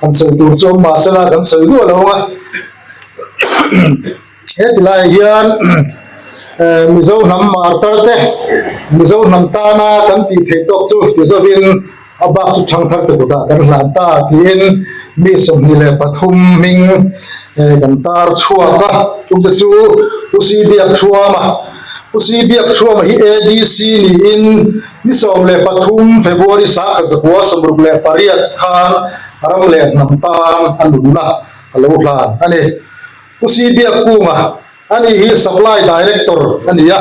Kan sawi tur chu awm mahse la kan sawi luah lo a, he ti laiah hian Mizo hnam martar te, Mizo hnam tana kan tih theih tawk chu ti zawhin a bak chu thangthar te kutah kan hlan ta tiin mi sawmhnih leh pathum hming kan tar chhuak a, chute chu U Sibiak thuama. U Sri biak thuama hi ADC niin ni sawm leh pathum February sangha zakua sawmruk leh pariat khan ram leh hnam tan a nunna a lo hlan a ni. U Sri biak kunga a nih hi Supply Director a ni a,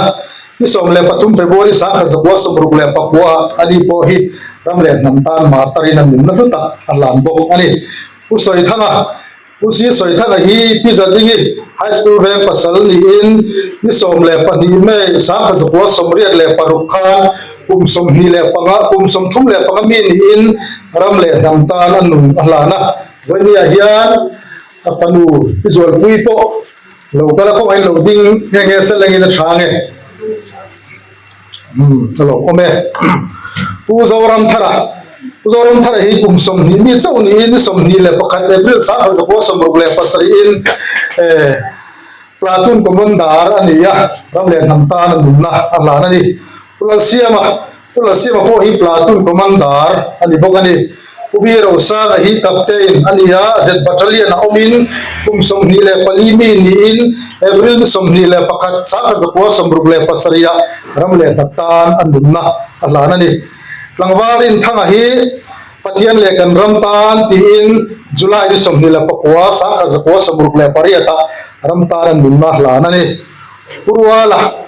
ni sawm leh pathum February sangha zakua sawmruk leh pakua a nih pawh hi ram leh hnam tan mar tarin a nunna hlutak a hlan bawk a ni. U Sawi Thanga. Pu Sir Sawithana hi Pi Zalingi High School veng pasal niin ni sawm leh pahnih May, Sangkha Zakua sawmriat leh paruk khan kum sawmhnih leh panga, kum sawmthum leh panga mi niin ram leh hnam tan a nung a hlan a. Vawinia hian a fanu Pi Zualpui pawh lo kal a, kawngah in lo ding nge nge se lengin a tha nge? Ka lo awm e. Pu Zoramthara, Pu Zoramthara hi kum sawmhnih mi chauh niin sawmhnih leh pakhat April sangha zakua sawmruk leh pasarih in Platoon Commander a ni a, ram leh hnam tan a nunna a hlan a ni. Pu Lalsiama, Pu Lalsiama pawh hi Platoon Commander a ni bawk a ni. Pubi Rosana hi Captain a ni a, Z Battalion ah awmin kum sawmhnih leh pali mi niin April ni sawmhnih leh pakhat Sangha Zakua sawmruk leh pasarih ah ram leh hnat tan a nunna a hlan a ni. Tlangvarin thanga hi Pathian leh kan ram tan tiin July ni sawmhnih leh pakua Sangha Zakua sawmruk leh pariat ah ram tan a nunna a hlan a ni. Pu Ruala.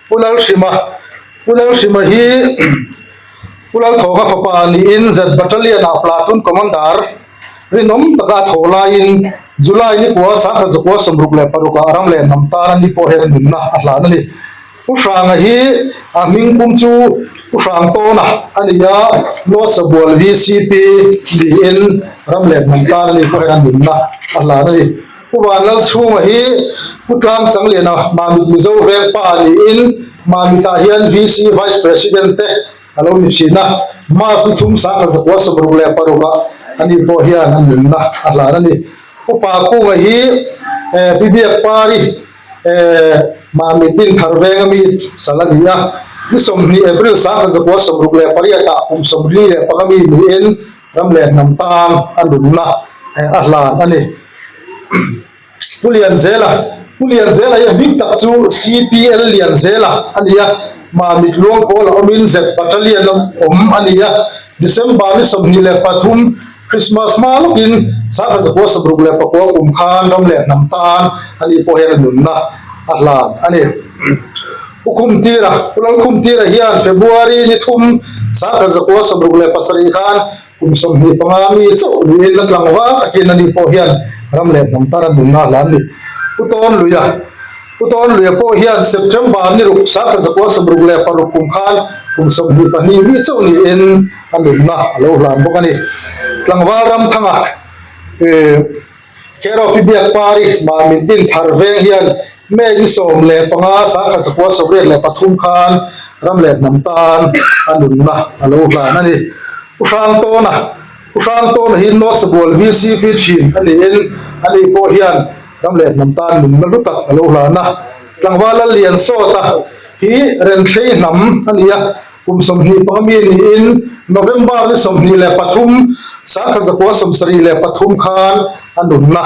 Pulalhrima, Pulalhrima hi Pulalthawka fapa niin Z Battalion ah Platoon Commander rinawm taka a thaw laiin July ni kua sangha zakua sawmruk leh paruk ah a ram leh hnam tan ani pawh hian a nunna a hlan a ni. Pu Hranga hi a hming kum chu Pu Hrang Tawna a ni a, Lawtsa Bual VCP niin ram leh hnam tan ani pawh hian a nunna a hlan a ni. Pu Van Lal chhunga hi Pu Tlang Chang Liana Mamit Mizo vengpa a niin Mamit ah hian VC, Vice President, te a lo ni thin a. March ni thum Sangha zakua sawmruk leh paruk ah a nih pawh hian an rinna a hlan a ni. Pu Pa Kunga hi Pi Biakpari Mamit in thar veng a mi sal a ni a. Ni sawmhnih April Sangha zakua sawmruk leh pariat ah kum sawmli leh panga mi niin, Ram leh hnam tan a nunna a hlan a ni. Pu Lian Zela, Pu Lian Zela hi a hming tak chu CPL Lian Zela a ni a, mah mitluang pawl a awmin Z Battalion a awm a ni a. December ni sawmhnih leh pathum, Christmas hma lawkin Chhakha Zakua samruk leh pakua kum khan ram leh hnam tan anih pawh hian a nunna a hlan a ni. U Khum Tira, U Lal Khum Tira hian February ni thum Sangkhat zakua sawmruk leh pasarih khan kum sawmhnih panga mi chauh niin a tlang vang takin ani pawh hian ram leh hnam tana nunna a hla a ni. U Tawnluia, U Tawnluia pawh hian September ni ruk Sangkhat zakua sawmruk leh paruk kum khan kum sawmhnih pahnih mi chauh niin a nunna a lo hlan bawk a ni. Tlangval ramthanga Kherau Pi Biakpari Mamintin Tharveng hian May ni sawm leh panga sangha zakua sawmriat leh pathum khan ram leh hnam tan a nunna a lo hlan a ni. U Hrang Tawna U Hrang Tawna hi North Sabual VCP thin a niin a ni pawh hian ram leh hnam tan nunna hlu tak a lo hlan a. Tlangval Lalliansawta hi Renthlei hnam a ni a, kum sawmhnih panga mi niin November ni sawmhnih leh pathum sangha zakua sawmsarih leh pathum khan a nunna.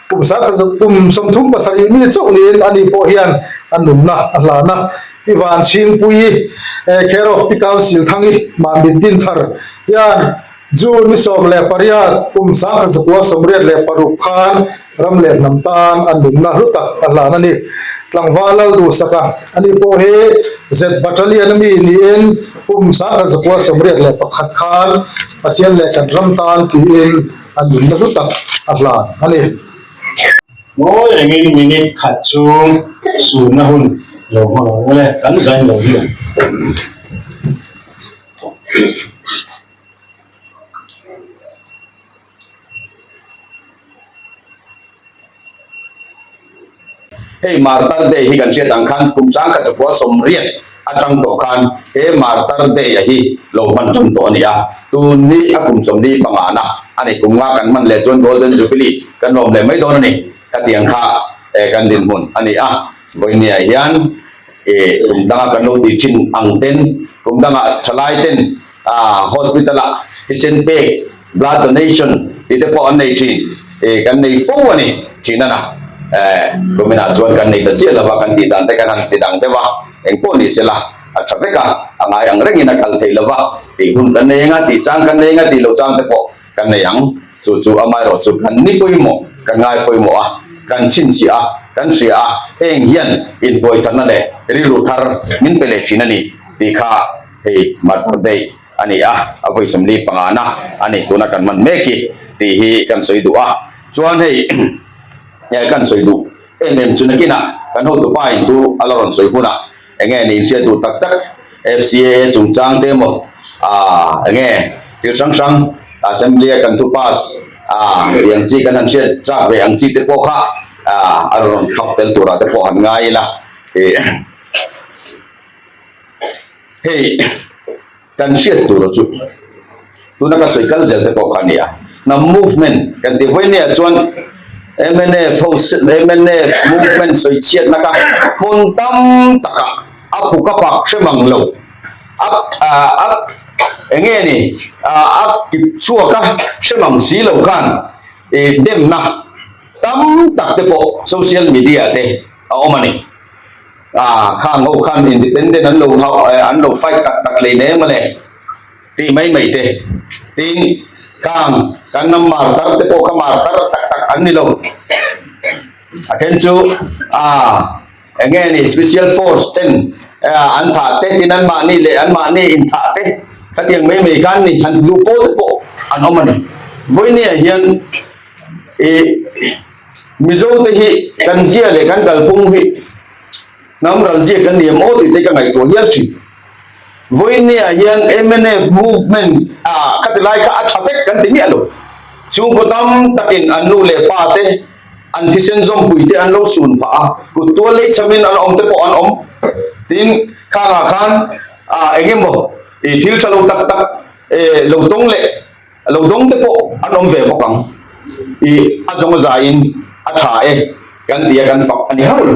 Kum sakha zet kum sawmthum pasarih mi chauh niin ani pawh hian a nunna a hlan a. Ivan Chhingpuii, Care of Pi Council Thangi, Manbit din thar, hian June ni sawm leh pariat kum sakha zakua sawmriat leh paruk khan ram leh hnam tan a nunna hlu tak a hlan a ni. Tlangval lal duh saka ani pawh hi zet battalion ami niin kum sakha zakua sawmriat leh pakhat khan Pathian leh kan ram tan tiin A nui lutuk tak a hlan a ni. Ngawi rengin minute khat chu sunna hun lo hma lo awle kan zain lo hi ang. Hei Martar Day hi kan hriat ang khan kum sang ka chawhpawh a sawm riat atang tawh khan he Martar Day-a hi lo hman ṭum tawh a ni a, tun hi a kum sawm dîm pangahna a ni, kum nga kan hman leh chuan Golden Jubilee kan lawm leh mai dawn a ni, khati ang kha kan dinhmun a ni a, Vawinia hian kum danga kan lo tih ṭhin ang ten, kum danga ṭhalaiten, Hospital ah i sen pek, blood donation, tih te pawh an nei thin. I kan nei fo a ni thin a na. Kumin ah chuan kan nei ta chiah lo va, kan tih dan te kan han ti dang deuh a, eng pawh ni sela a tha vek a, a ngai ang reng in a kal theih lo va, tih hun kan nei ang a, tih chang kan nei ang a tih lo chang te pawh kan nei ang. Chu chu amah erawh chu kan ni pawimawh, kan ngai pawimawh a, kan chhinchhiah a, kan hria a, heng hian inbuaitharna leh rilru thar min pe leh thin a ni tih kha, Hei mother day a ni a, a vawi sawmli pangana a nih tuna kan hman mek i tih hi kan sawi duh a, chuan hei e kan sawi duh em em chu nakinah kan hotupa in chu a la rawn sawi hunah eng nge ni inhriat duh tak tak FCAA chungchang te emaw aah eng nge thil hrang hrang assembly a kan thu pass aah tih ang chi kan han hriat chak ve ang chi te pawh kha aah a rawn khap tel turah te pawh han ngai ila tih. hei kan hriat tur chu tuna ka sawi kal zel te pawh kha a ni a hnam movement kan tih vawi neiah chuan mnf ho mnf movement sawi chhiatna kha hmun tam takah a phuka pak hrem ang lo a a eng nge ni a kip chhuak a hrem ang si lo khan eh demna tam tak te pawh social media te a awm a ni. Aa, khang ho khan independent an lo hau, eh, an lo fight tak tak hlei hle mawle, tih mai mai te. Tin, khang kan ram mar tar te pawh kha mar tar tak tak an ni lo. A then chu, aa, enge ni special force ten, eh, an thah te, tin an mah ni leh an mah ni in thah te, khatiang mai mai khan ni, han luh pawl te pawh an awm a ni. Vawinia hian, ih, Mizo te hi kan zia leh kan kalpawm hi hnam ral zia kan ni emaw tih te ka ngaihtuah hial thin. Vawinia hian mnf movement a ka ti lai kha a tha vek kan ti miah lo. Chhungkaw tam takin an nu leh pa te, an thisen zawmpui te an lo sun phah a, kuttual lei chham in an awm te pawh an awm. Tin, khangah khan eng emaw thil tha lo tak tak lo tawng leh, a lo dawng te pawh an awm ve bawk ang. I a zawng zain a tha e kan tia kan fak a ni hau lo.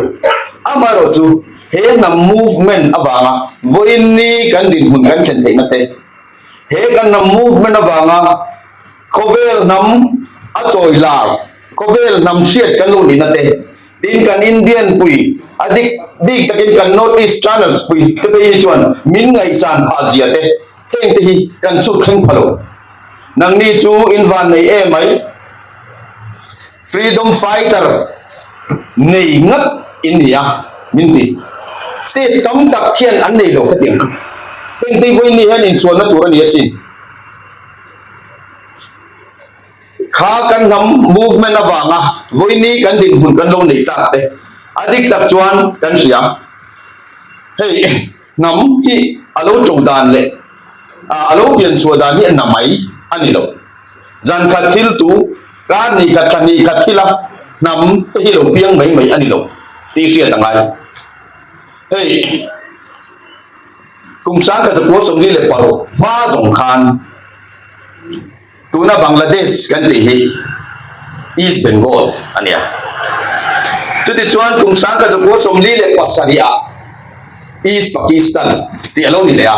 Amaherawh chu he hnam movement avanga vawiinni kan dinhmun kan thlen theihna te, he kan hnam movement avanga khawvel hnam a chawi lak, khawvel hnam hriat kan luh nihna te, tin kan Indian pui a dik bik takin kan North Easterners pui te pawh hi chuan min ngaihsan phah zia te, Heng te hi kan chhuk thleng pha lo. Nangni chu in van nei e mai. Freedom fighter nei ngat in ni a min ti. State tam tak khian an nei lo kha tih ang. Heng te vawiin ni hian in chhuan na tur a ni a sin. Kha kan hnam movement a vanga vawiini kan dinhmun kan lo nei tak te a dik tak chuan kan hria. Hei. Hnam hi a lo to dan leh a lo pian chhuah dan hi a na mai a ni lo. Zan khat thil tu, kar ni khat, tha ni khat thila hnam te hi lo piang mai mai a ni lo tih hriat a ngai. Hei kum sangkhat zakualsawmli leh paruk hma zawng khan. Tuna Bangladesh kan tih hi East Bengal a nia. Chuti chuan kum sangka zakua sawmli leh pasarihah East Pakistan tih a lo ni leh a.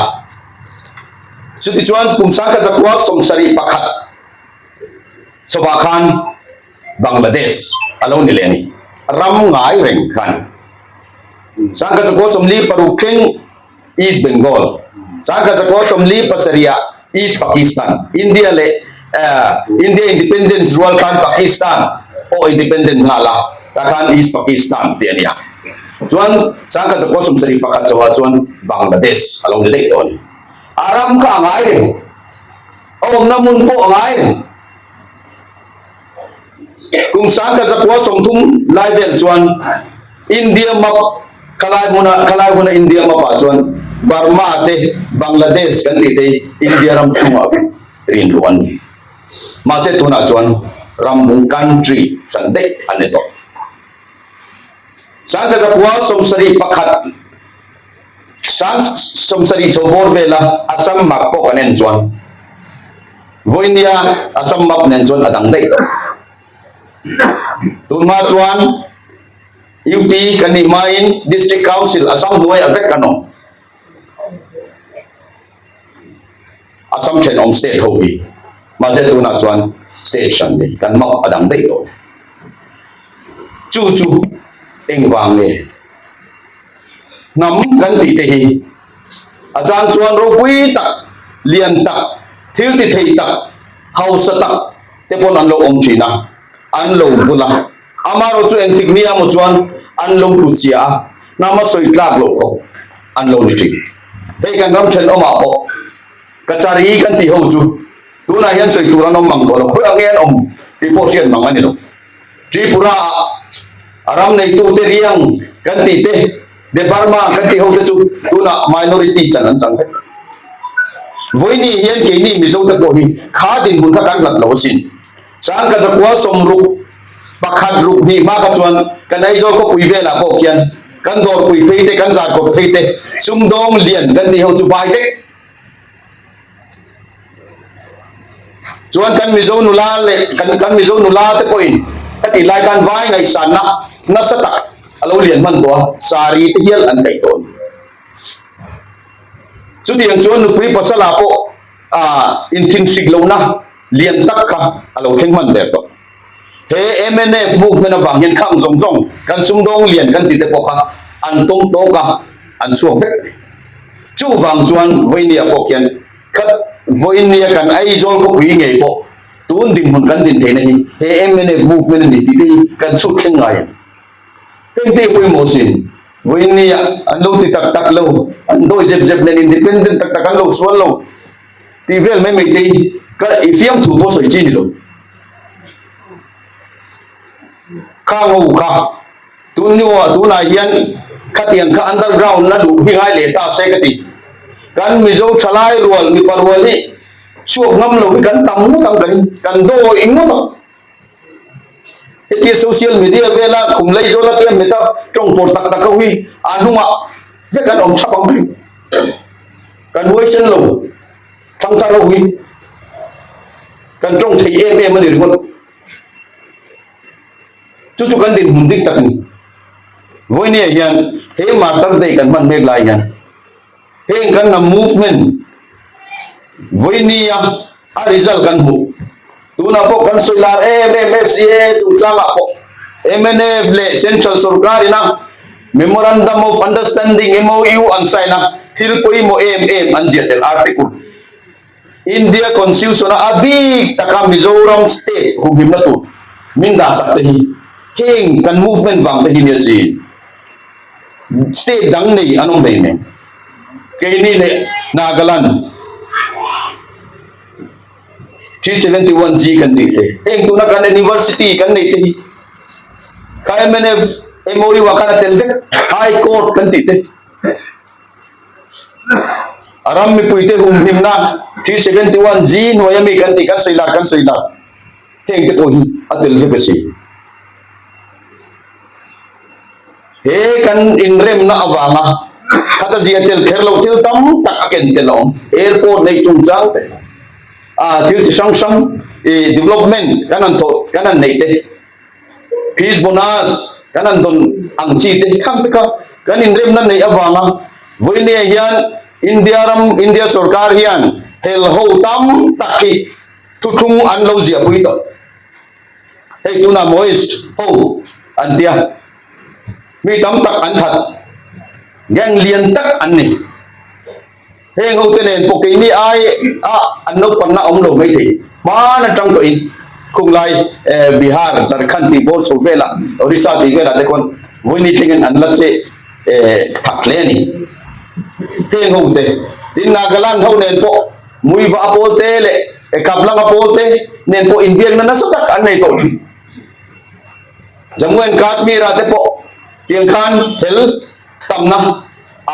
Chuti chuan kum sangka zakua sawmsarih pakhat chhawpah khan Bangladesh a lo ni leh a ni. Ram ngai reng khan sangka zakua sawmli paruk thleng. East Bengal, Sangha Zakua sawmli pasarih ah East Pakistan, India leh India Independence rual khan Pakistan pawh independent nghal a, tah khan East Pakistan tih a ni a. Chuan Sangha Zakua sawmsarih pakhat zohah chuan Bangladesh a lo ni daih tawh a ni. A ram kha a ngai reng, a awmna hmun pawh a ngai reng. Kum Sangka Zakua sawmthum lai vel chuan India map khalai hmuna khalai hmuna India map ah chuan Burma te Bangladesh kan tih te hi India ram chhungah vek rin luh an ni. Mahse tunah chuan rambung country hran daih a ni tawh. Sangka Zakua sawmsarih pakhat Sang sawmsarih chho bawr vela Assam map pawh kan en chuan vawinia Assam map nen chuan a dang daih tawh. Tunhma chuan UP kan nih hmain District Council Assam hnuaia vek kan awm. A sam thenawm state ho hi, mahse tunah chuan state hran nei kan map a dang daih tawh le. Chu chu engvang nge? Hnam kan tih te hi a chang chuan ropui tak, lian tak, thiltithei tak, hausa tak te pawh an lo awm thin a, an lo vul a. Amaherawh chu engtik nia maw chuan an lo hru chhia a, hnama sawi tlak loh tawh an lo ni thin. Hei kan ram thenawmah pawh ka chari kan tih ho chu tunah hian sawi tur an awm ang tawh lo, khawiah nge an awm tih pawh hriat mang a ni lo. Tripura-ah a ram neitute riang kan tih te, Debbarma kan tih ho te chu tunah minority chan an chang vek. Vawinih hian keini Mizote pawh hi kha dinhmun kha kan hlat lo asin. Chuan ka zakual sawm ruk pakhat ruk hnih hma kha chuan kan Aizawl khawpui velah pawh khian kan dawrpui phei te, kan zat kawt phei te, sumdawng lian kan tih ho chu vai vek. Chuan kan Mizo nula leh kan kan Mizo nula te pawhin ka tih lai khan vai ngaihsanna nasa tak a lo lian hman tawh a, saree te hial an kaih tawh a ni. Chutiang chuan nupui pasal ah pawh. a inthinhrik lohna lian tak kha a lo thleng hman ber tawh. He mnf movement avang hian khang zawng zawng kan sumdawng lian kan tite pawh kha an tawm tawk a, an chhuak vek mai. Chuvang chuan Vawinia pawh khian khat Vawinia kan Aizawl khawpui ngei pawh tun dinhmun kan din theihna hi he mnf movement a ni tih te hi kan chhutthleng ngai a ni. Engtih pawimawh si, vawiin nge ah an lo ti tak tak lo, an dawi zep zep nen, independent tak tak an lo sual lo tih vel mai mai te ka i fiam thu pawh sawi chi ni lo. Kha ngo kha, tun ni aw tunah hian khatiang kha underground a duh hi ngai leh ta se ka ti. Kan Mizo tha lai rual, mipa rual hi chhuak ngam lo hi kan tam ngawt ang kahin, kan dawi ngawt ang. Hetiang social media vela khum lei zawn atiang heta tawng pawr tak tak ho hi a hnungah vek an awm thap ang bik. Kan huai sen lo thangthar ho hi kan tawng thei em em a ni ringawt. Chu chu kan dinhmun dik tak a ni. Vawinia hian he Martyr Day kan hman mek lai hian, heng kan hnam movement vawinia a result kan hmu tunah pawh kan sawi lar em em FCA chungchangah pawh MNF leh central sorkarin a memorandum of understanding MOU an sign a thil pawimawh em em an ziah tel article India Constitution-a a bik taka Mizoram state humhimna tur min dahsak te hi heng kan movement vang te hi nia si. State dang nei an awm hlei mai. Keini leh Nagaland three seventy one G kan tih te. Heng tuna kan university kan nei te hi kha MNF MOU-a khan a tel vek High Court kan tih te. A ram mipuite humhimna G seventy one G hnuai ami kan tih kan sawi lak kan sawi lak heng te pawh hi a tel vek a si. He kan inremna avanga khata zia tel kher lo thil tam tak a ken tel a awm. Airport nei chungchang te ah thil chi hrang hrang ih development kan han thawh kan han neih te. Peace Bonus kan han dawn ang chi te kham te kha kan inremna neih avanga Vawinia hian India ram India sorkar hian hel ho tam tak hi thu thung an lo ziahpui tawh hei tuna Maoist ho an tia mi tam tak an that gang lian tak an ni Heng hote nen pawh keini aiah an naupangna awm lo mai thei. Hmaan atang tawhin khunglai Bihar, Jharkhand tih bawr chho velah, Odisha tih velah te khawn vawiini thlengin an la che thak hle a ni. Heng hote, tin Nagaland ho nen pawh Muiva a pawl te leh Kaplanga pawl te nen pawh inbiakna nasa tak an nei tawh thin. Jammu and Kashmir-ah te pawh tiang khan hel. tamna a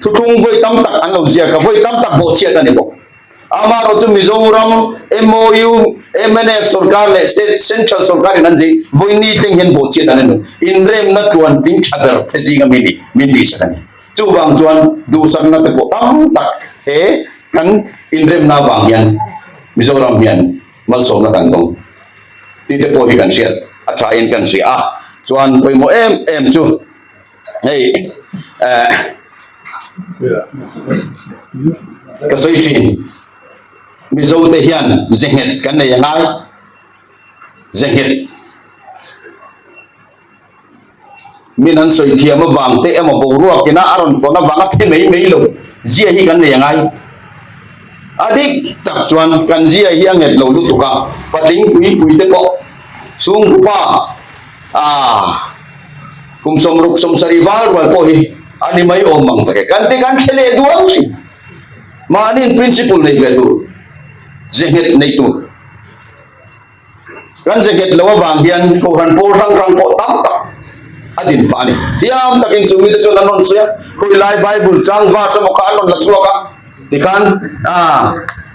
thu thung vawi tam tak an lo ziak a vawi tam tak bawh chhiat a ni bawk amarawh chu mizoram MOU MNF sorkar leh state central sorkar in an zing vawi ni tleng hian bawh chhiat an ni inremna tluan ding tha ber te zing a mi ni min tih chhan a ni chu vang chuan duhsakna te pawh tam tak he kan inremna vang hian mizoram hian Malsawmna kan dawng tite pawh hi kan hriat a thain kan hria a, chuan pawimawh em em chu hei eh ka sawi thin Mizo te hian ze nghet kan nei a ngai, ze nghet. min an sawi thiam avang te emaw boruak ina a rawn tlawn avang a phe mai mai lo zia hi kan nei angai a dik tak chuan kan zia hi a nghet lo lutuk a patling pui pui te pawh chhungkupa a kum sawmruk sawmsari val rual pawh hi a ni mai awm ang tak e kan te kan khe leh duang chi mahni in principle nei ve tur zia nghet nei tur Kan jacket lo avang hian huhran pawl hrang hrang pawh tam tak a din phah a ni. Hliam takin chu mite chuan an rawn sawi a, Khawilaia Bible chang verse emaw kha an rawn la chhuak a. Tikhan aah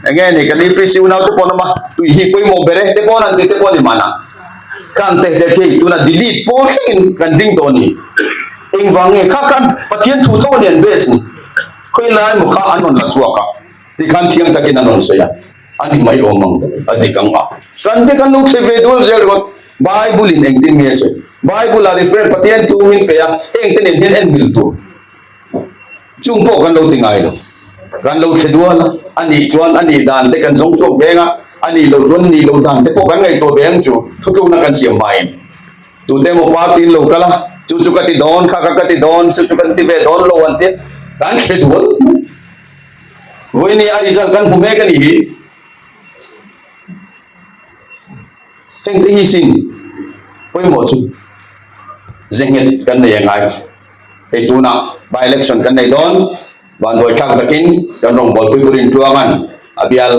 eng nge ni kan EPC unaute pawh an awm a, tui hi pawimawh ber e te pawh an han ti te pawh a ni mahna. Kha an tehte thei tuna delete pawl thlengin kan ding tawh a ni. Engvang nge kha khan Pathian thu tho a ni an base ni. Khawilaia emaw kha an rawn la chhuak a, tikhan thiang takin an rawn sawi a. A ni mai awm ang dawn a dik ang a. Kan te kan lo thlen ve dual zel rawt. Bible-in eng tin nge a sawi? Bible-a ri friend Pathian thu min feh a, heng te nen hian en hmil tur chung pawh kan lo ti ngai lo. Kan lo thlen dual a, a nih chuan a nih dan te kan zawng chhuak ve ang a, a nih loh chuan nih loh dan te pawh kan ngaihtuah ve ang chu thutlukna kan siam hmain. Tute emaw party in lo kal a, chu chu ka ti dawn, kha kha ka ti dawn, chu chu kan ti ve dawn lo an tih a, kan thlen dual. Ruihni a result kan hmu mek a nih hi. Heng te hi sin pawimawh chu zenghet kan nei a ngai. Hei tuna by election kan nei dawn, vanduai thlak takin kan rawngbawlpui burin tluang an a bial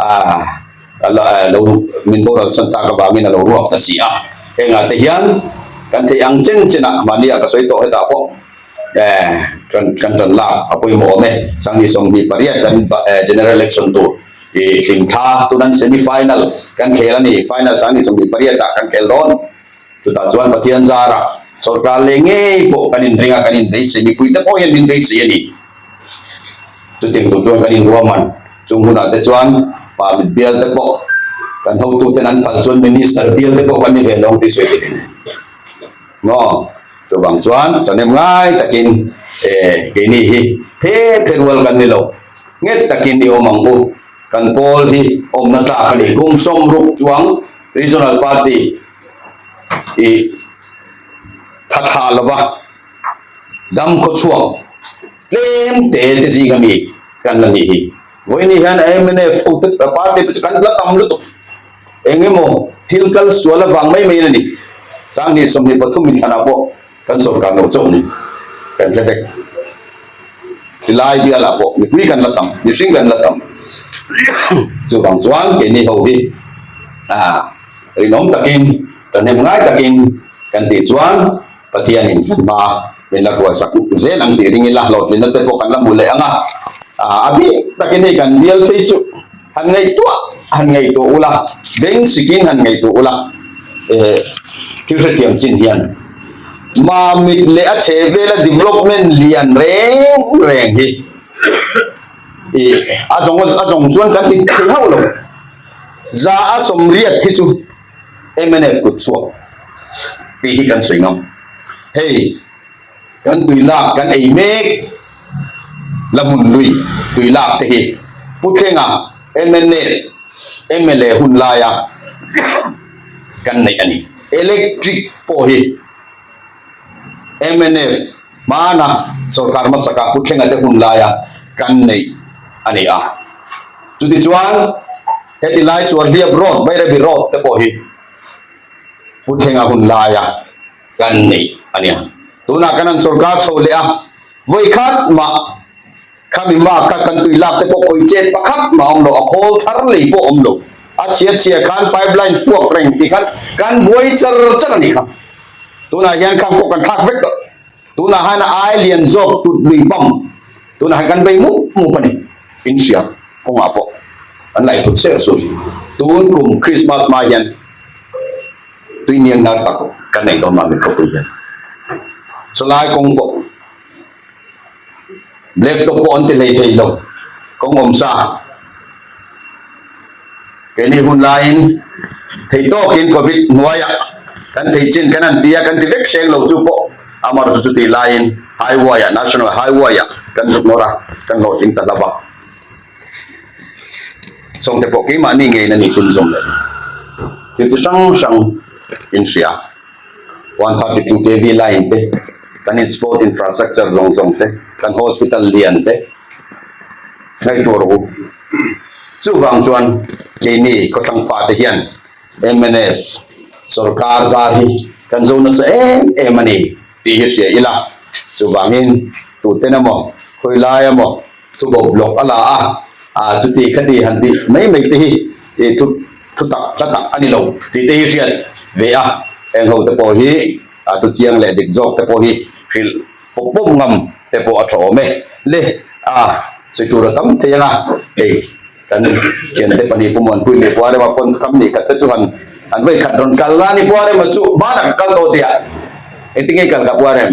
a lo min boral san tak avangin a lo ruak ta si a. Hengah te hian kan theih ang chen chen a, mahni ah ka sawi tawh hetah pawh, kan rawn lak a pawimawh awm e sangni sawmhnih pariat kan general election tur ih tling tha tunah semi final kan khel a ni final sangni sawmhnih pariat ah kan khel dawn chutah chuan pathian zar ah sawrkar leh ngei pawh kan inring a kan inbeihsei mipui te pawh hian min beisei a ni chuti tur chuan kan inruam an chung hunah te chuan pa mit bial te pawh kan hotu ten an phal chuan minister bial te pawh kan ni ve lawng tih sawi tel a ni. Maw? Chuvang chuan chawnem ngai takin, E, keini hi phe phe rual kan ni lo, nghet takin i awm ang u, kan pawl hi awmna tlak a ni, kum sawm ruk chuang Regional Party i thathah lova dam khawchhuak tlem te te zing a mi kan la nih hi. Vawiin ni hian MNF Party pawh chu kan la tam lutuk. Eng emaw thil kal sual avang mai maiin a ni. Sanghnih sawmhnih pathum min hlanah pawh kan sawrkar no chauh ni kan hre vek. Hi lai bialah pawh mipui kan la tam, mihring kan la tam. Chuvang chuan keini ho hi rinawm takin, tahnem ngai takin kan tih chuan, Pathianin kan hma min la kualsak zel ang tih ring ila hlawhtlinna te pawh kan la hmu leh ang a. A bik takin hei kan bial phei chu han ngaihtuah han ngaihtuah ula, beng sikin han ngaihtuah ula. Thil hrethiam chin hian mamit leh a chhehvela development lian reng reng hi a zawng a zawng chuan kan ti thei hauh lo. Za a sawmriat khi chu. MNF kut chhuak tih hi kan sawi ngam. Hei kan tui lak kan ei mek la hmun lui tui lak te hi Pu Thlenga MNF mla hun laia kan neih a ni. Electric pawh hi. mnf hmana sawrkar hmasaka kut thlengate hun laia kan neih a ni a, chutichuan heti lai Sualhliap road, Bairabi road te pawh hi kut thlenga hun laia kan neih a nia, tunah kan han sawrkar chho leh a, vawi khat mah. Khami mah ka kan tui lak te pawh khawi chet pa khat mah awm lo, a khawl thar lei pawh awm lo. A chhiat chhia khan pipeline puak reng tih khan kan buai char char a ni kha. Tunah hian kham pawh kan thlak vek tawh. Tunah han a ai lian zawk tut lui bam. Tunah han kan bei mup mup a ni. Inhriat kawngah pawh kan lai phut ser su hi. Tun kum Christmas hma hian tui niang lar tak ka nei dawn mah mi khawpui hian chulai kawng pawh. black top pawh an ti hlei thei lo kawng awm sa keini hun laiin thei tawkin covid hnuaiah kan thei chin kan han ti a kan ti vek hreng lo chu pawh amarawhchu chu tih laiin highway ah national highway ah kan zuk nawr a kan hlawhtling ta hlauh a sawmte pawh keimahni ngeiin a nih chhunzawm lo thil chi hrang hrang in hria. one thirty two kv line te kan in sport infrastructure zawng zawng te kan hospital lian te hrei tur a awm chuvang chuan keini khaw thlangpha te hian mnf sawrkar zar hi kan zo nasa em em a ni tih hi hria ila chuvangin tuten emaw khawi lai emaw thu bawk block a la a a chuti kha ti han tih mai mai te hi tih thu thu tak hla tak a ni lo tih te hi a hriat ve a, heng ho te pawh hi a thu chiang leh dik zawk te pawh hi hrilh pawp pawp ngam te pawh a tha awm e le a sawi tur a tam thei ang a, hei kan thiante pahnih pawh an puih leh puarem a pawn kham nih khat te chu han han vawi khat rawn kal a ni puarem a chu hmalam kal tawh teh a engtin nge i kal kah puarem?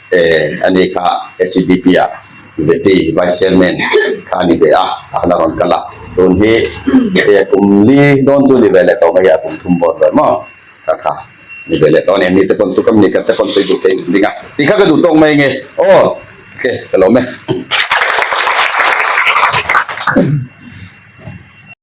a ni kha SEBP a Deputy Vice Chairman kha a ni ve a, a la rawn kal a, tun hi hei a kum li dawn chu ni ve leh tawh mai a, a kum thum bawn ruai maw kha kha ni ve leh tawh a ni, mite pawn chu ka mi ka te pawn sawi duh theih in ding a, tih kha ka duh tawk mai nge aw ok ka lawm e.